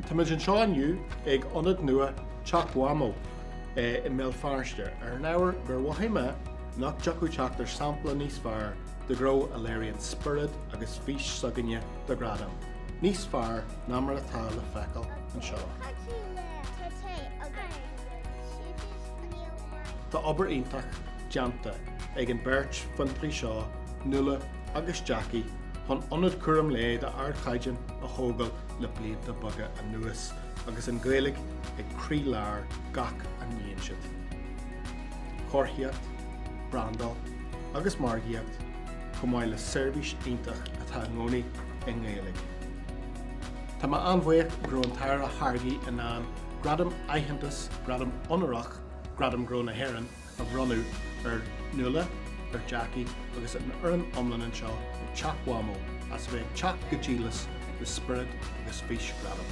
Táimid anseo inniu ag ionad nua Teach Mhamó i mBéal Feirste ar an ábhar gur mhothaigh mé nach dtiocfadh teacht ar sampla níos fearr de ghnó a léiríonn spiorad agus fís s'againne do Ghradaim níos fearr ná mar atá le feiceáil anseo. Tá obair iontach déanta ag an bheirt fiontraí seo, Nuala agus Jackie, chun ionad cúram lae d'ardchaighdeán a thógáil le blianta beaga anuas agus an Ghaeilge ag croílár gach a ndéanann siad. Comharthaíocht, brandáil agus margaíocht, chomh maith le seirbhís iontach atá i gcónaí i nGaeilge. Tá mé an-bhuíoch go raibh an tAire Hargey in ann gradam aitheantais, gradam onórach Gradaim Gnó na hÉireann a bhronnadh ar Nuala, ar Jackie agus ar an fhoireann iomlán anseo ag Teach Mhamó as a bheith ag teacht go díleas le spiorad agus fís ghradaim.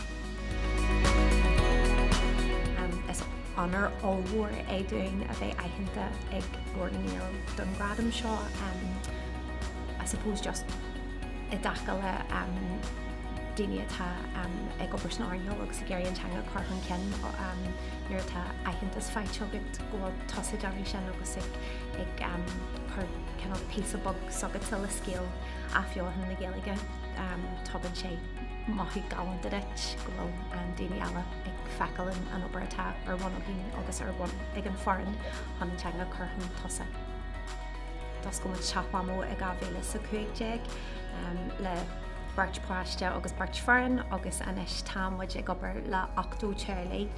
Is onóir ollmhór é dúinn a bheith aitheanta ag Glór na nGael don ghradam seo. I suppose just i dtaca le daoine atá ag obair san earnáil agus ag iarraidh an teanga a chur chun cinn nuair atá aitheantas faighte. bhfuil tusa ag déanamh sin agus ag cur cineál píosa beag seo go dtí scéal athbheochan na Gaeilge, tugann sé mothú galánta duit go bhfuil daoine eile ag feiceáil an obair atá ar bhun againn agus ar bhun ag an bhfoireann chun an teanga a chur chun tosaigh. D'oscail muid Teach Mhamó i 2015 le beirt páiste agus beirt foireann agus anois tá muid ag obair le 80 teaghlach.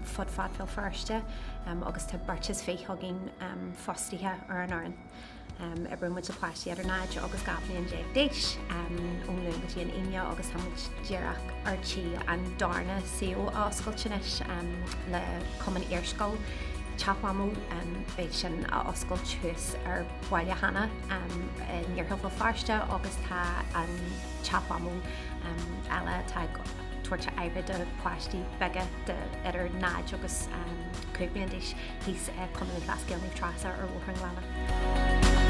fud fad Bhéal Feirste agus tá beirt is fiche againn fostaithe ar an fhoireann. Oibríonn muid le páistí idir 0 agus 12 bhliain d'aois ón Luan go dtí an Aoine agus tá muid díreach ar tí an darna suíomh a oscailt anois le Cumann Iarscoil Teach Mhamó. Beidh sin á oscailt thuas ar Bhaile Hanna in iarthar Bhéal Feirste agus tá an Teach Mhamó eile tá ag Tabhairt aire do páistí beaga idir 0 agus 5 bliain d'aois thíos ag Cumann Lúthchleas Gael Naomh Treasa ar Bhóthar an Ghleanna.